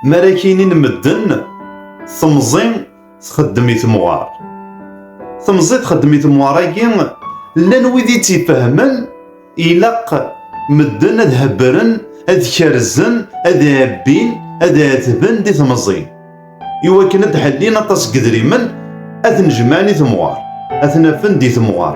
Mi ara k-inin medden, temẓi txeddem i temɣar. Temẓi txeddem i temɣar-agi, llan wid i tt-ifehmen, ilaq medden ad hebbren, ad kerzen, ad ɛebbin, ad ɛetben di temẓi. Iwakken ad d-ḥellin aṭas n yedrimen, ad ten-jemɛen i temɣar, ad ten-afen di temɣar.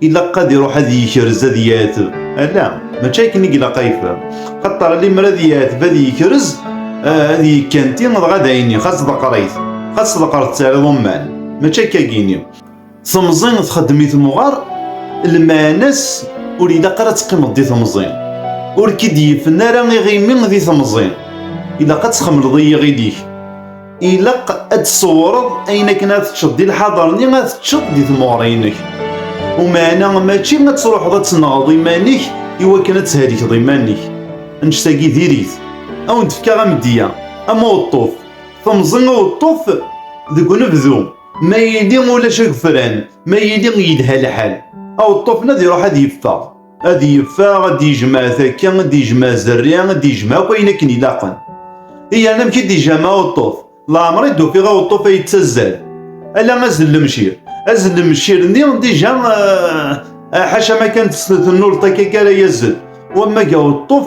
ilaq ad iruḥ ad yekrez ad yeɛteb ala mačči akken i ilaq ad yefhem xaṭer limer ad yeɛteb ad yekrez ad yekkanti dɣa d ayni xas deqrayt xas deqret tariḍ umman mačči akka gini temẓi txeddem i temɣar lmaɛna-s ur ilaq ara ad teqqimeḍ di temẓi ur k-id-yifen ara iɣimi di temẓi ilaq ad txemleḍ i yiɣil-ik ilaq ad tsewreḍ ayen akken ad teččeḍ di lḥaḍer-nni ad teččeḍ di tmuɣra-inek umeɛna mačči ad truḥeḍ ad tenɣeḍ iman-ik iwakken ad thelkeḍ iman-ik annect-agi diri-t ad wen-d-fkeɣ amedya am uweṭṭuf temẓi uweṭṭuf deg unebdu ma yili ulac agefran ma yili yelha lḥal aweṭṭuf-nni ad iruḥ ad yeffeɣ ad yeffeɣ ad d-yejmeɛ takka ad d-yejmeɛ zerri ad d-yejmeɛ akk ayen akken ilaqen iyan amek i d-yejama aweṭṭuf leɛmer i d-ufiɣ aweṭṭuf ay yettazzal ala azzel lemcir azzel lemcir nni dija eh, ḥaca ma kan tennulṭ akka ara yazzel wamma ga weṭṭuf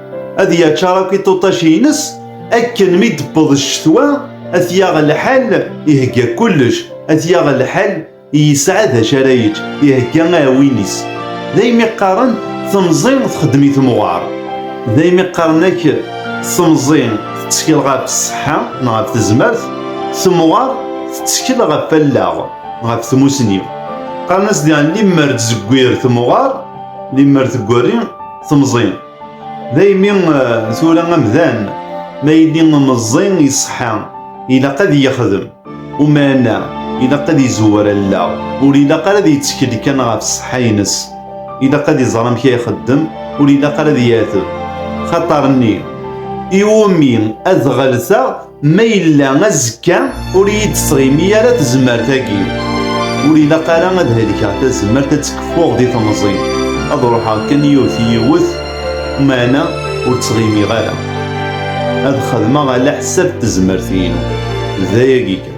ad yaččar akk iṭuṭac-ines akken mi d-tewweḍ ccetwa ad t-yaɣ lḥal ihegga kullec ad t-yaɣ lḥal yesɛa d acu ara yečč ihegga aɛwin-is daymi qqaren temẓi txeddem i temɣar daymi qqaren ak temẓi tettkel ɣef ṣṣeḥḥa neɣ ɣef tezmert temɣar tettkel ɣef allaɣ ɣef tmusni qqaren-as diɣen limmer tzegwir temɣar limmer tegwari temẓi Daymi tura amdan ma yili meẓẓi iṣeḥḥa ilaq ad yexdem umana ilaq ad izewwer allaɣ ur ilaq ara ad yettkel kan ɣef ṣṣeḥḥa-ines ilaq ad iẓer amek ay ixeddem ur ilaq ara ad yateb xaṭer-nni iwumi ad ɣelteɣ Ma yella azekka ur iyi-d-tɣimi ara tezmert-agi, ur ilaq ara ad helkeɣ tazmert ad tkeffuɣ di temẓi, ad ruḥeɣ kan yiwet yiwet, meɛna ur ttɣimiɣ ara. Ad xedmeɣ ala ḥsab tezmert-inu. D ayagi kan.